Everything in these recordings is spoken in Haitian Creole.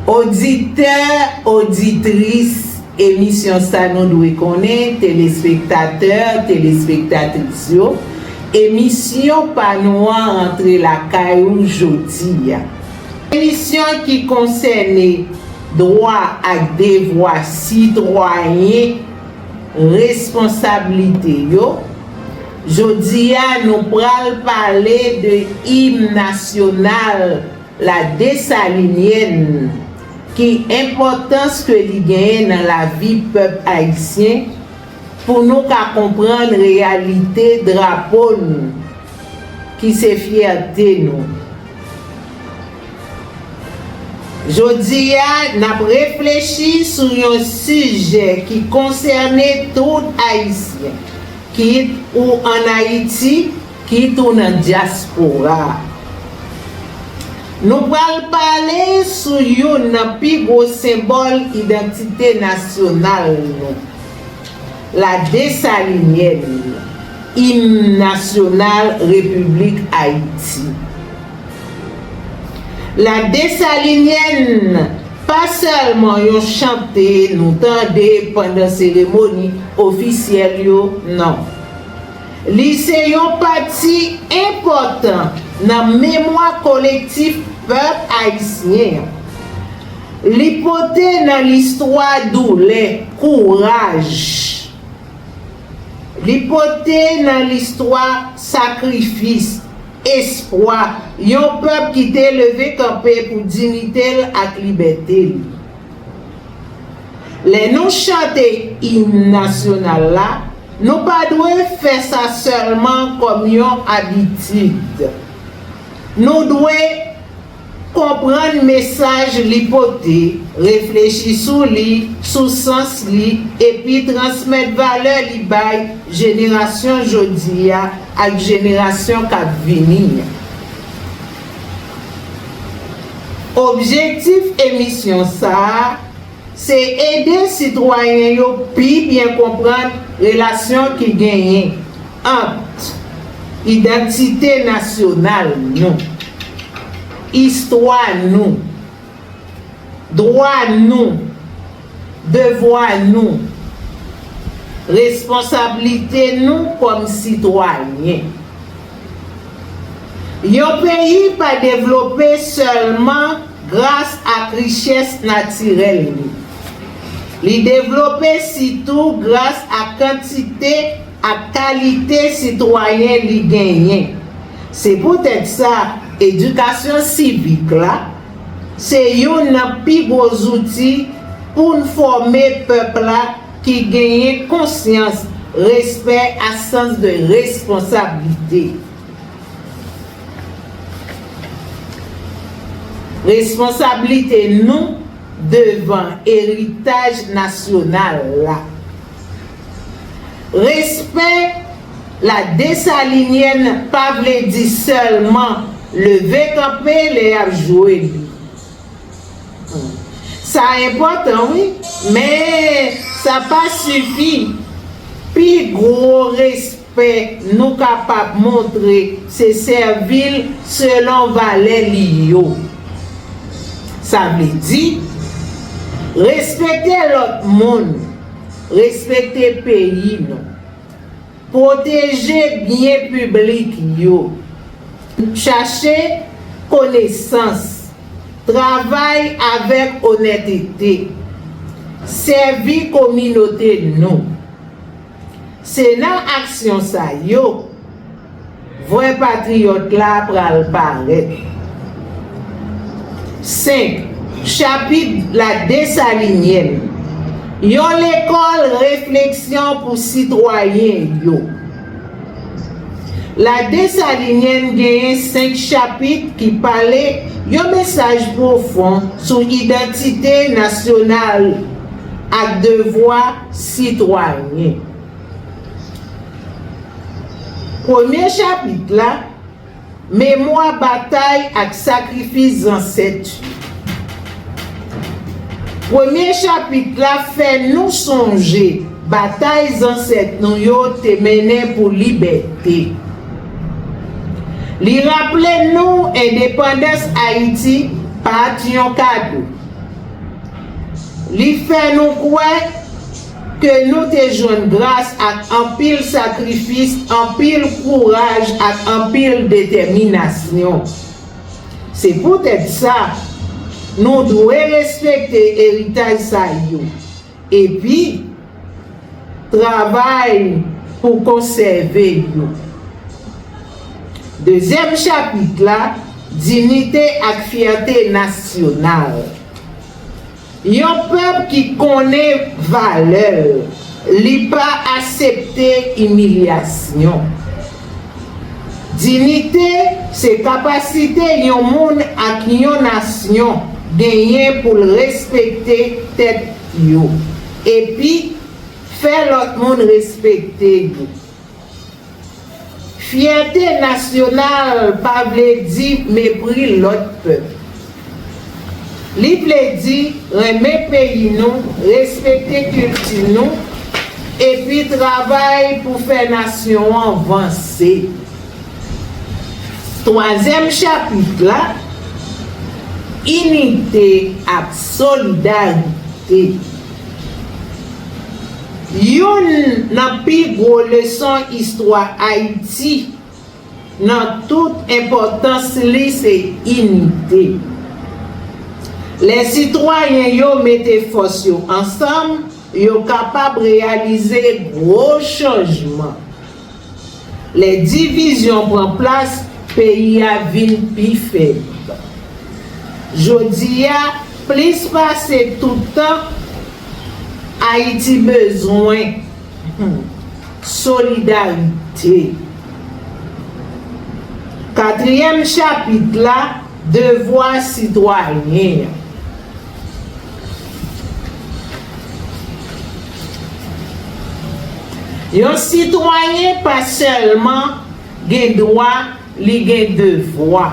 Oditè, oditris emisyon Sa Nou Dwe Konnen, telespektatè, telespektatris yo, emisyon pa nou an rantre lakay ou jodi a. Emisyon ki konsène dwa ak devwa sitwayen, responsablite yo. Jodi a nou pral pale de Im Nasyonal. La Dessalinienne, ki enpòtans ke li genyen nan lavi pèp ayisyen pou nou ka konprann reyalite drapo nou ki se fyète nou. Jodi a, n ap reflechi sou yon sijè ki konsène tout Ayisyen, kit ou an Ayiti Ki tou nan dyaspora. Nou pral pale sou youn nan pi gwo senbòl idantite nasyonal nou, La Dessalinienne, Im nasyonal Repiblik Ayiti. La Dessalinienne pa sèlman yon chante nou tande pandan seremoni ofisyèl yo, non. Li se yon pati enpòtan nan memwa kolektif pèp ayisyen an. Li pote nan listwa doulè, kouraj. Li pote nan listwa sakrifis, espwa yon pèp ki te leve kanpe pou dinite l ak libète l. Lè nou chante Im Nasyonal la, nou pa dwe fè sa sèlman kòm yon abitid. Nou dwe Konprann mesaj li pote, reflechi sou li, sou sans li, epi transmèt valè li bay jenerasyon jodi a ak jenerasyon k ap vini an. Objektif emisyon sa a se ede sitwayen yo pi byen konprann relasyon ki genyen ant idantite nasyonal nou, istwa nou, Dwa nou, devwa nou, responsablite nou kòm sitwayen. Yon peyi pa devlope sèlman gras ak richès natirèl li. Li devlope sitou gras ak kantite ak kalite sitwayen li genyen. Se poutèt sa, edikasyon sivik la se youn nan pi gwo zouti pou n fòme pèp la ki genyen konsyans, respè ak sans de responsablite. Responsablite nou devan eritaj nasyonal la. Respè La Dessalinienne pa vle di sèlman leve kanpe lè y ap jwe li. Sa enpòtan wi, men sa pa sifi. Pi gwo respè. Fè nou kapab montre se sèvi l selon valè li yo. Sa vle di, respekte lòt moun, respekte peyi nou, pwoteje byen piblik yo, chache konesans, travay avèk onètete, sèvi kominote nou. Se nan aksyon sa yo vrè patriyòt la pral parèt. 5, Chapit La Desalinyèn Yon lekòl refleksyon pou sitwayen yo La Desalinyèn genyen senk chapit ki pale yon mesaj pwofon sou idantite nasyonal ak devwa sitwayen. Premye chapit la, Memwa batay ak sakrifis zansèt yo. Premye chapit la fè nou sonje batay zansèt nou yo te mennen pou libète. Li raple nou endepandans Ayiti pa t yon kado. Li fè nou kwè ke nou te jwenn gras ak anpil sakrifis, anpil kouraj ak anpil detèminasyon. Se poutèt sa, nou dwe respekte eritaj sa yo epi travay pou konsève yo. Dezyèm chapit la, Dinite ak fyète nasyonal. Yon pèp ki konnen valè l, li pa asepte imilyasyon. Dinite se kapasite yon moun ak yon nasyon genyen pou l respekte tèt yo epi fè lòt moun respekte yo. Fyète nasyonal pa vle di mepri lòt pèp. Li vle di renmen peyi nou, respekte kilti nou, epi travay pou fè nasyon an vanse. Twazyèm chapit la, Inite ak solidarite. Youn nan pi gwo leson istwa Ayiti nan tout enpòtans li se inite. Lè sitwayen yo mete fòs yo ansanm, yo kapab reyalize gwo chanjman. Lè divizyon pran plas, peyi a vin pi fèb. Jodi a, plis pase tout tan, Ayiti bezwen solidarite. Katriyèm chapit la, Devwa sitwayen an. Yon sitwayen pa sèlman gen dwa, li gen devwa.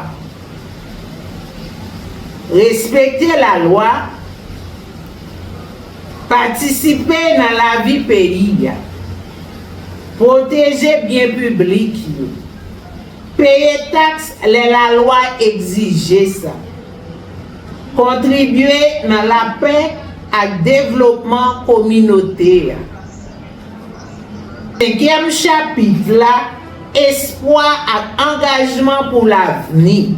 Respekte lalwa, patisipe nan lavi peyi a, pwoteje byen piblik yo. Peye taks lè lalwa egzije sa. Kontribye nan lapè ak devlopman kominote a. Senkyèm chapit la Espwa ak angajman pou lavni.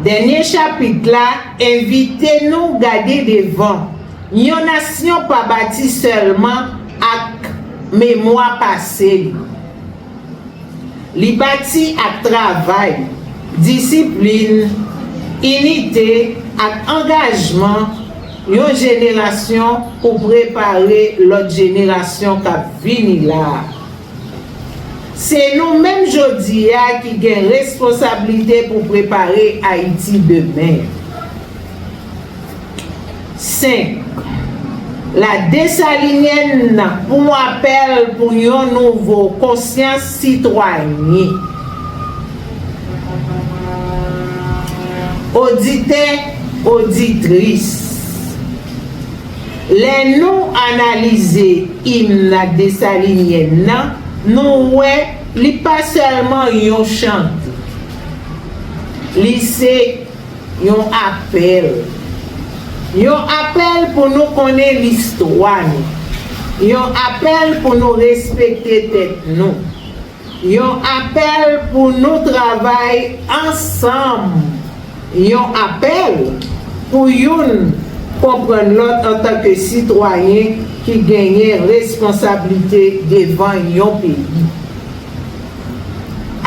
Dènye chapit la envite nou gade devan, yon nasyon pa bati sèlman ak memwa pase li. Li bati ak travay, disiplin, inite ak angajman yon jenerasyon pou prepare lòt jenerasyon k ap vini la a. Se nou menm jodi a ki gen responsablite pou prepare Ayiti demen. 5, La Dessalinienne nan yon apèl pou yon nouvo konsyans sitwayen. Oditè, oditris, lè nou analize Imn Dessalinienne nan, nou wè li pa sèlman yon chante. Li se. Yon apèl. Yon apèl pou nou konnen listwa nou. Yon apèl pou nou respekte tèt nou. Yon apèl pou nou travay ansanm. Yon apèl pou youn konprann lòt antanke sitwayen ki genyen responsablite devan yon peyi.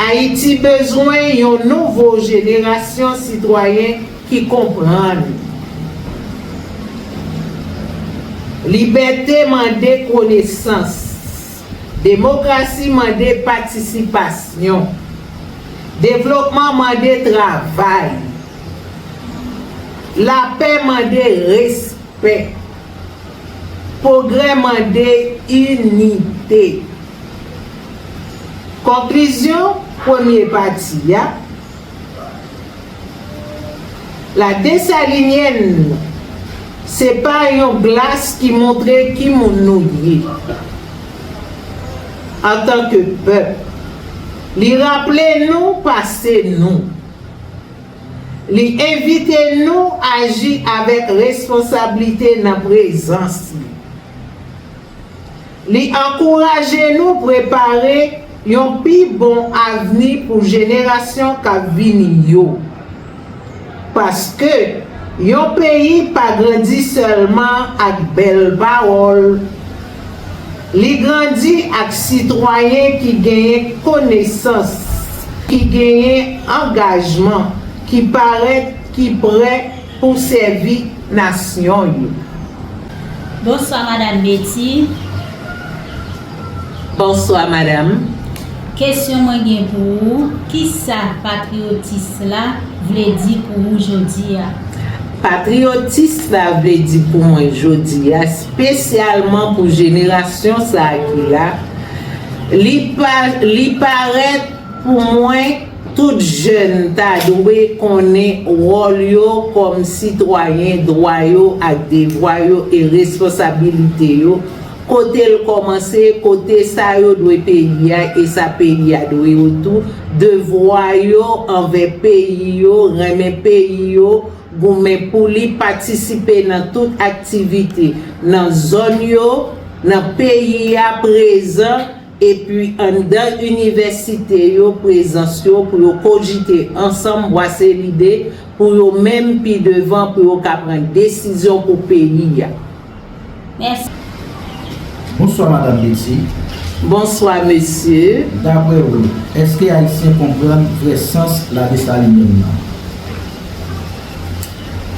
Ayiti bezwen yon nouvo jenerasyon sitwayen ki konprann. Libète mande konesans. Demokrasi mande patisipasyon. Devlopman mande travay. Lapè mande respè. Pwogrè mande inite. Konklizyon premye pati a La Dessalinienne se pa yon glas ki montre ki moun nou ye antanke pèp. Li raple nou pase nou. Li envite nou aji avèk responsablite nan prezans li. Li ankouraje nou prepare yon pi bon avni pou jenerasyon k ap vini yo. Paske, yon peyi pa grandi sèlman ak bèl pawòl, li grandi ak sitwayen ki genyen konesans, ki genyen angajman, ki parèt, ki prè, Pou w sèvi nasyon yo. Bonswa madam Betty. Bonswa madam. Kesyon mwen gen pou ou kisa patriotis la vle di pou ou jodia? Patriotis la vle di pou mwen jodia spesyalman pou jenerasyon sa ki la li pa li parèt pou mwen Tout jèn ta dwe konnen wòl yo kòm sitwayen, dwa yo ak devwa yo e responsabilite yo, kote l kòmanse, kote sa yo dwe peyi a e sa peyi a dwe yo tou, devwa yo anvè peyi yo, renmen peyi yo, goumen pou li, patisipe nan tout aktivite, nan zòn yo, nan peyi a, prezan, Epi anndan inivèsite yo prezans yo pou yo kojite ansanm bwase lide pou yo menm pi devan pou yo ka pran desizyon pou peyi a. Mèsi. Bonswa Madam Betty. Bonswa Mesye. Daprè ou, èske Ayisyen konprann vrè sans Ladesalinièn nan?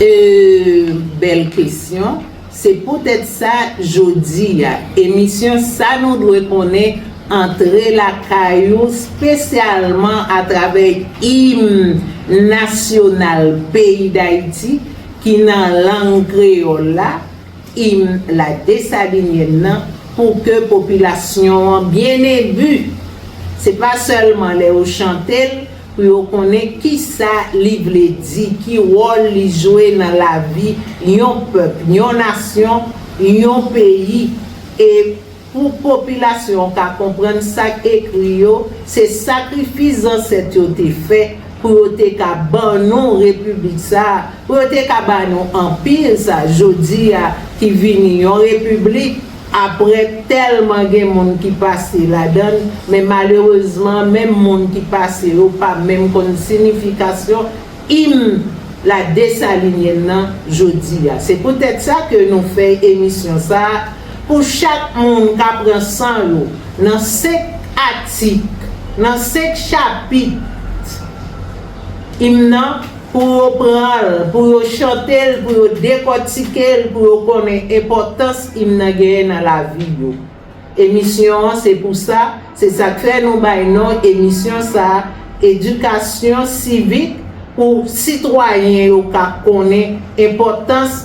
Eeuh bèl kesyon. Se poutèt sa, jodi a, emisyon Sa nou dwe konnen antre lakay ou spesyalman atravè Im nasyonal peyi Dayiti ki nan lang kreyòl la, Im la Desalinyèn nan, pou kè popilasyon an byen ebu. Se pa sèlman lè ou chante l, pou yo konnen ki sa li vle di, ki wòl li jwe nan lavi yon pèp, yon nasyon, yon peyi e pou popilasyon an ka konprann sa k ekri yo, se sakrifis zansèt yo te fè pou yo te ka ban nou Repiblik sa a, pou yo te ka ba nou Anpi sa jodi a ki vini yon Repiblik. Aprè tèlman gen moun ki pase ladann, men malerezman menm moun ki pase yo pa menm konn sinifikasyon Im la Desalinyèn nan jodi a. Se poutèt sa ke nou fè emisyon sa pou chak moun ka pran san yo nan 5 atik, nan 5 chapit Im nan. Pou yo pran l, pou yo chante l, pou yo dekòtike l, pou yo konnen enpòtans im nan genyen nan lavi yo. Emisyon an se pou sa, se sa k fè nou bay non emisyon sa a Edikasyon Sivik pou sitwayen yo ka konnen enpòtans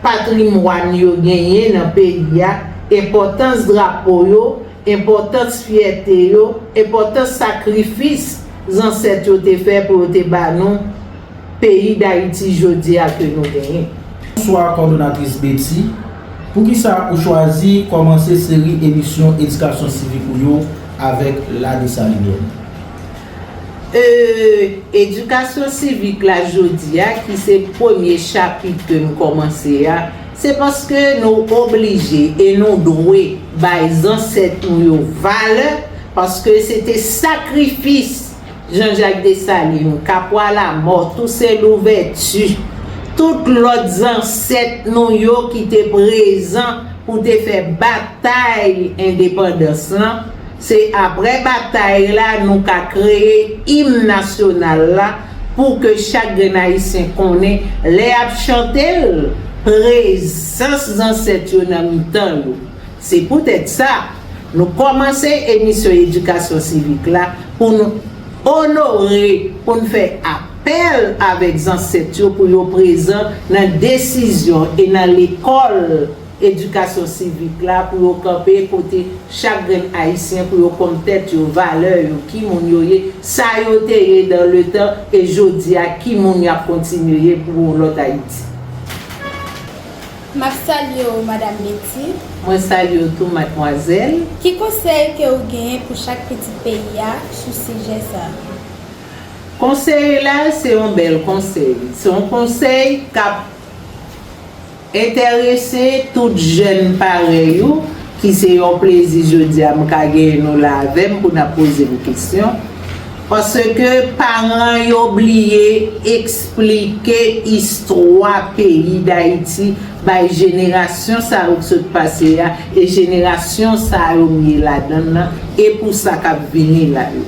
patrimwàn yo genyen nan peyi a, enpòtans drapo yo, Enpòtans fyète yo, enpòtans sakrifis zansèt yo te fè pou yo te ba nou peyi Dayiti jodi a ke nou genyen. Bonswa kòdonatris Betty, poukisa ou chwazi kòmanse seri emisyon edikasyon sivik ou yo avèk La Dessalinienne? Euh edikasyon sivik la jodi a ki se premye chapit ke nou kòmanse a, se paske nou oblije e nou dwe bay zansèt nou yo valè paske se te sakrifis Janjak Desalin, Kapwa Lamò, Tousen Louvèti, tout lòt zansèt nou yo ki te prezan pou te fè batay endepandans lan. Se aprè batay la nou ka kreye im nasyonal la pou ke chak grenn Ayisyen konnen lè y ap chante l, prezans zansèt yo nan mitan yo. Se poutèt sa, nou kòmanse emisyon edikasyon sivik la pou n onore, pou n fè apèl avèk zansèt yo pou yo prezan nan desizyon e nan lekòl, edikasyon sivik la pou yo kanpe kote chak grenn ayisyen pou yo konn tèt yo, valè yo, ki moun yo ye, sa yo te ye dan le tan e jodi a ki moun y ap kontinye ye pou yon lòt Ayiti. M ap salye w Madam Betty. Mwen salye w tou Madmwazèl. Ki konsèy ke ou genyen pou chak pitit peyi a sou sijè sa a? Konsèy la se yon bèl konsèy. Se yon konsèy k ap Entèrese tout jèn parèy ou ki se yon plezi jodi a m ka genyen nou la avè m pou n ap poze m kesyon, paske paran yo bliye esplike istwa peyi Dayiti bay jenerasyon sa yo k sot pase a e jenerasyon sa yo m ye ladan l lan e pou sa k ap vini la yo.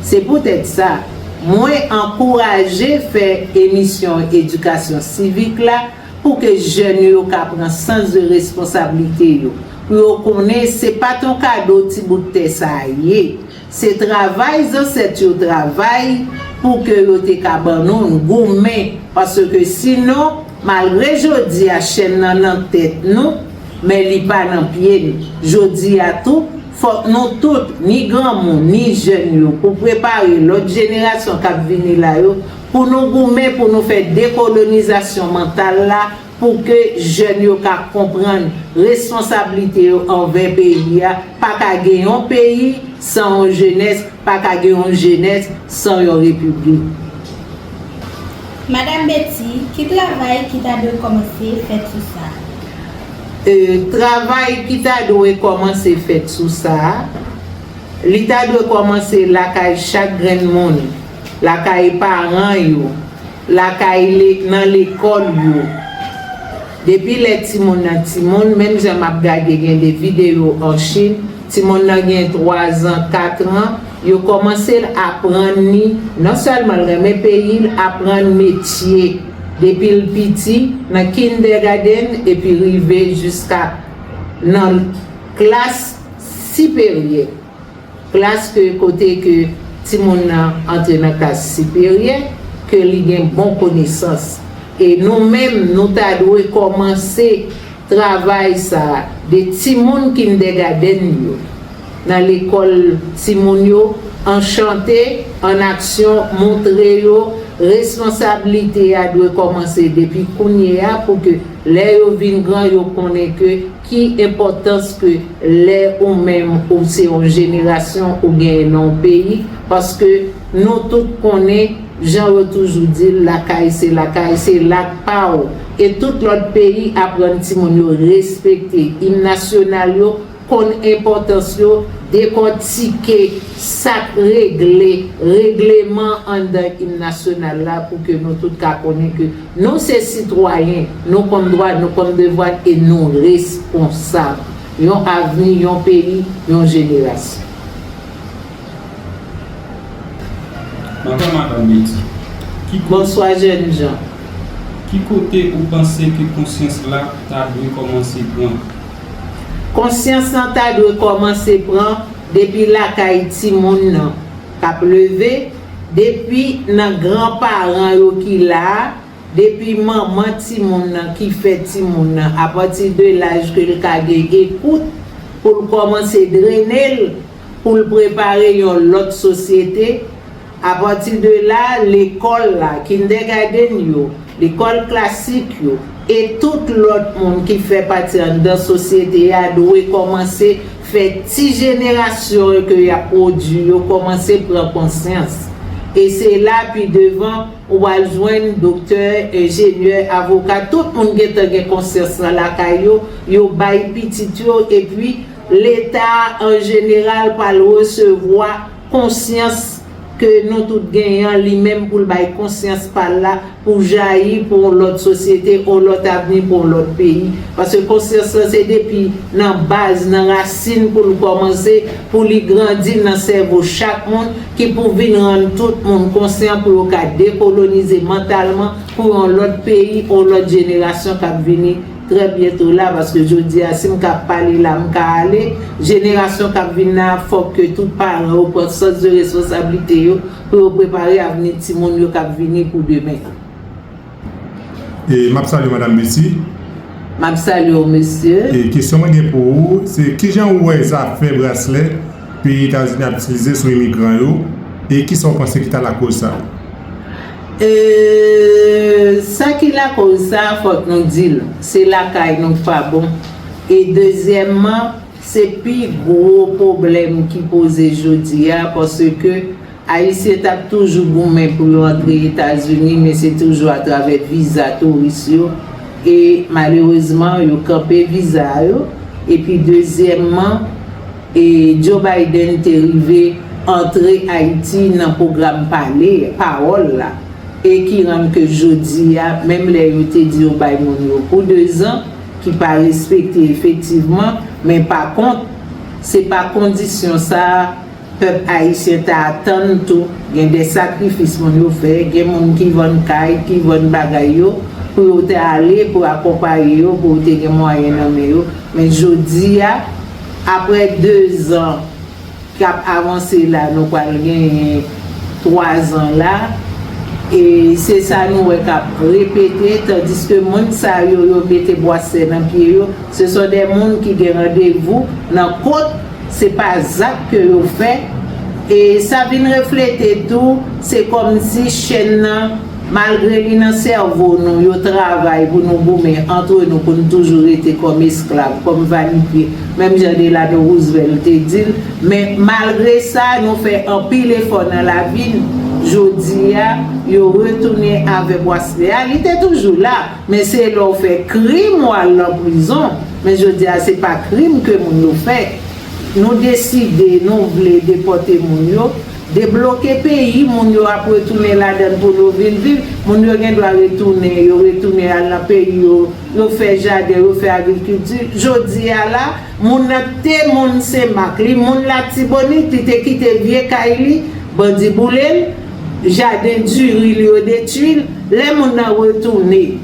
Se poutèt sa, mwen ankouraje fè emisyon edikasyon sivik la, Pou ke jèn yo ka pran sans de responsablite yo. Pou yo konnen se pa t yon kado ti bout tè sa a ye. Se travay zansèt yo travay pou ke yo te ka ban nou n, goumen. Paske si non, malgre jodi a chèn nan nan tèt nou, men li pa nan pye n. Jodi a tou, fòk nou tout, ni granmoun, ni jèn yo, pou prepare lòt jenerasyon k ap vini la yo, pou nou goumen pou nou fè dekolonizasyon mantal la pou ke jèn yo ka konprann responsablite yo anvè peyi a, pa ka gen yon peyi san yon jenès, pa ka gen yon jenès san yon repiblik. Madam Betty, ki travay ki ta dwe kòmanse fèt sou sa a? E, travay ki ta dwe kòmanse fèt sou sa a, li ta dwe kòmanse lakay chak grenn moun. Lakay paran yo. Lakay nan lekòl yo. Depi lè timoun nan timoun, menm jan m ap gade gen de videyo an Chin, timoun nan gen twazan, katran, yo kòmanse l aprann li, non sèlman l renmen peyi l, aprann metye depi l piti, nan kindègadenn epi rive jiska nan klas siperyè. Plas ke kote ke timoun nan antre nan klas siperyè, ke li gen bon konesans. E nou menm nou ta dwe kòmanse travay sa a de timoun kindègadenn yo, nan lekòl timoun yo, an chante, an aksyon, montre yo responsablite a dwe kòmanse depi kounye a pou ke lè yo vin gran yo konnen ke Ki enpòtans ke lè ou menm ou se yon jenerasyon ou genyen nan yon peyi, paske nou tout konnen jan yo toujou di l lakay se lakay, se la k pa w. E tout lòt peyi aprann timoun yo respekte im nasyonal yo, konn enpòtans yo, dekòtike sa k regle, regleman anndan im nasyonal la pou ke nou tout ka konnen ke. Nou se sitwayen, nou konn dwa, nou konn devwa e nou responsab. Yon avni, yon peyi, yon jenerasyon. Bonswa Madan Betty. Ki kote. Bonswa jènjan. Ki kote ou panse ke konsyans la ta dwe kòmanse pran? Konsyans lan ta dwe kòmanse pran depi lakay timoun nan k ap leve. depi nan gran paran yo ki la, depi manman timoun nan ki fè timoun nan apati de laj ke l ka gen ekout pou l kòmanse drene l pou l prepare yon lòt sosyete, apati de la lekòl la, kindègadenn yo, lekòl klasik yo e tout lòt moun ki fè pati anndan sosyete a dwe kòmanse Fè ti jenerasyon yo ke y ap pwodui yo kòmanse pran konsyans. E se la pi devan ou pral jwenn doktè, enjenyè, avoka, tout moun gentan gen konsyans lan lakay yo, yo bay pitit yo epi Leta an jeneral pral resevwa konsyans, ke nou tout genyen an li menm pou l bay konsyans pa l la pou jayi pou yon lòt sosyete, yon lòt avni pou yon lòt peyi. Paske konsyans lan se depi nan baz, nan rasin pou l kòmanse, pou li grandi nan sèvo chak moun, ki pou vin rann tout moun konsyan pou yo ka dekolonize mantalman pou yon lòt peyi, yon lòt jenerasyon k ap vini. Trè byento la paske jodi a si m ka pale la m ka ale, jenerasyon k ap vin nan a fòk ke tout paran yo pran sans de responsablite yo pou yo prepare avni timoun yo k ap vini pou demen an. E m ap salye Madam Lucie. M ap salye w mesye. E kesyon mwen gen pou ou se kijan ou wè zafè braslè peyi Etazini ap itilize sou imigran yo e kisa ou panse ki ta lakoz sa? E sa ki lakoz sa fòk nou di l se lakay nou k pa bon e dezyèmman se pi gwo pwoblèm ki poze jodi a paske Ayisyen t ap toujou goumen pou yo antre Etazini men se toujou atravè viza touris yo e malerezman yo kanpe viza a yo epi dezyèmman e Joe Biden te rive antre Ayiti nan pwogram pale pawòl la e ki rann ke jodi a menm lè yo te di yo bay moun yo pou dezan ki pa respekte efektivman men pa kont se pa kondisyon sa a Pèp ayisyen ta atann tou gen de sakrifis moun yo fè, gen moun ki vann kay, ki vann bagay yo pou yo te ale pou akonpaye yo pou yo te gen mwayen nan men yo, men jodi a aprè 2 zan k ap avanse la nou pral genyen 3 zan la e se sa nou wè k ap repete tandiske moun sa yo yo mete bwasè nan pye yo se son de moun ki gen randevou nan kot Se pa zak ke yo fè, e sa vin reflete tou, se kòmsi chèn nan, malgre li nan sèvo nou, yo travay pou nou goumen antre nou pou nou toujou rete kòm esklav, kòm vanipye, menm jan Delano Roosevelt te di l. Men, malgre sa, nou fè anpil efò nan lavi n. Jodi a, yo retounen avèk Wasle a. Li te toujou la. Men se lè w fè krim w al lan prizon, men jodi a se pa krim ke moun yo fè. Nou deside nou vle depòte moun yo, debloke peyi moun yo ap retounen ladann pou nou vin viv, moun yo gen dwa retounen, yo retounen al lan peyi yo, yo fè jaden, yo fè agrikilti. Jodi a la, moun nan te moun Senmak, li moun Latibonit, li te kite vye kay li, bandi boule l. Jaden diri l yo detui l. Lè moun nan retounen,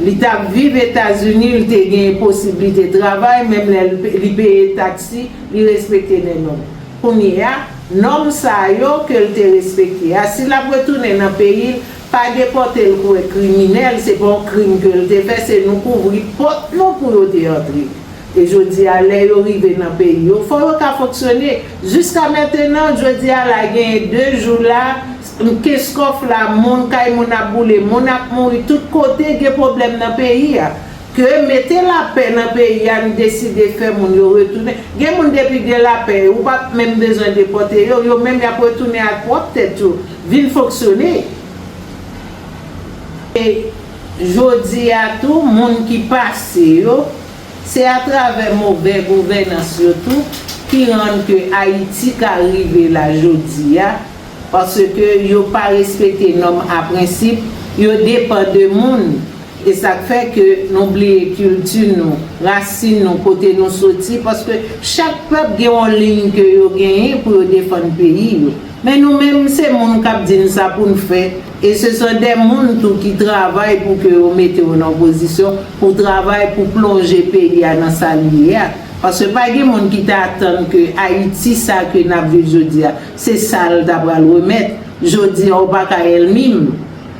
li t ap viv Etazini, li te gen posiblite travay, menm lè li peye taksi, li respekte de nòm. Kounye a, nòm sa yo ke l te respekte a, si l ap retounen nan peyi l, pa depòte l kouwè kriminèl, se pa yon krim ke l te fè, se nou kouvri pòt nou pou yo te antre. E jodi a, lè yo rive nan peyi yo, fò yo ka fonksyone. Jiska mentenan, jodi a la genyen 2 jou la, m kenskof la, moun, kay moun ap boule, moun ap mouri, tout kote gen pwoblèm nan peyi a. Ke mete lapè nan peyi a, n deside fè moun yo retounen. Gen moun depi gen lapè, ou pa p menm bezwen depòte yo, yo menm y ap retounen ak pwòp tèt yo, vin fonksyone. E jodi a tou, moun ki pase yo. Se a travè movè gouvènans yo tou ki rann ke Ayiti ka rive la jodi a, paske yo pa respekte nòm a prensip, yo depan de moun, e sak fè ke nou bliye kilti nou, rasin nou, kote nou soti, paske chak pèp gen yon liyn ke yo genyen pou yo defann peyi yo. Men nou menm se moun kap di n sa pou n fè. E se son de moun tou ki travay pou ke yo mete yo nan pozisyon pou travay pou plonje peyi a nan sa li ye a. Paske pa gen moun ki ta atann ke Ayiti sa ke n ap viv jodi a, se sa l ta pral remèt. Jodi a ou pa ka èlmi m.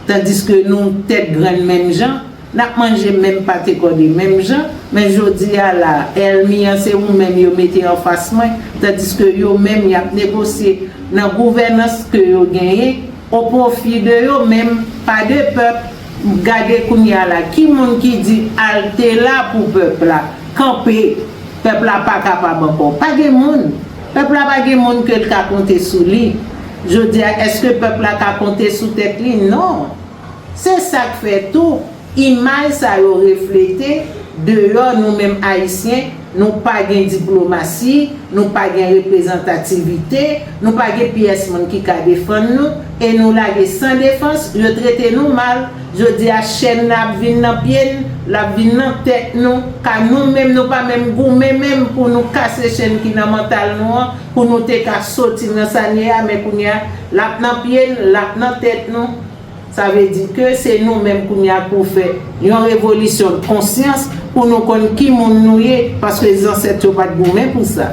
Tandiske nou tèt grann menm jan, n ap manje menm pate kòde menm jan, men jodi a la a, èlmi an se ou menm yo mete anfas mwen, tandiske yo menm y ap negosye nan gouvènans ke yo genyen, O pwofi de yo menm, pa de pèp, gade kounye a la, ki moun ki di alte la pou pèp la, kanpe, pèp la pa kapab ankò. Pa gen moun. Pèp la pa gen moun ke l ka konte sou li. Jodi a, èske pèp la ka konte sou tèt li? Non. Se sa k fè tou. Imaj sa yo reflete deyò nou menm Ayisyen, nou pa gen diplomasi, nou pa gen reprezantativite, nou pa gen pyès moun ki ka defann nou, e nou lage san defans, yo trete nou mal, jodi a chèn nan ap vin nan pye n, l ap vin nan tèt nou, ka nou menm nou pa menm goumen menm pou nou kase chèn ki nan mantal nou an, pou nou te ka soti nan sa n ye a, men kounye a l ap nan pye n, l ap nan tèt nou. Sa vle di ke se nou menm kounye a pou fè yon revolisyon konsyans pou nou konn ki moun nou ye paske zansèt yo pat goumen pou sa.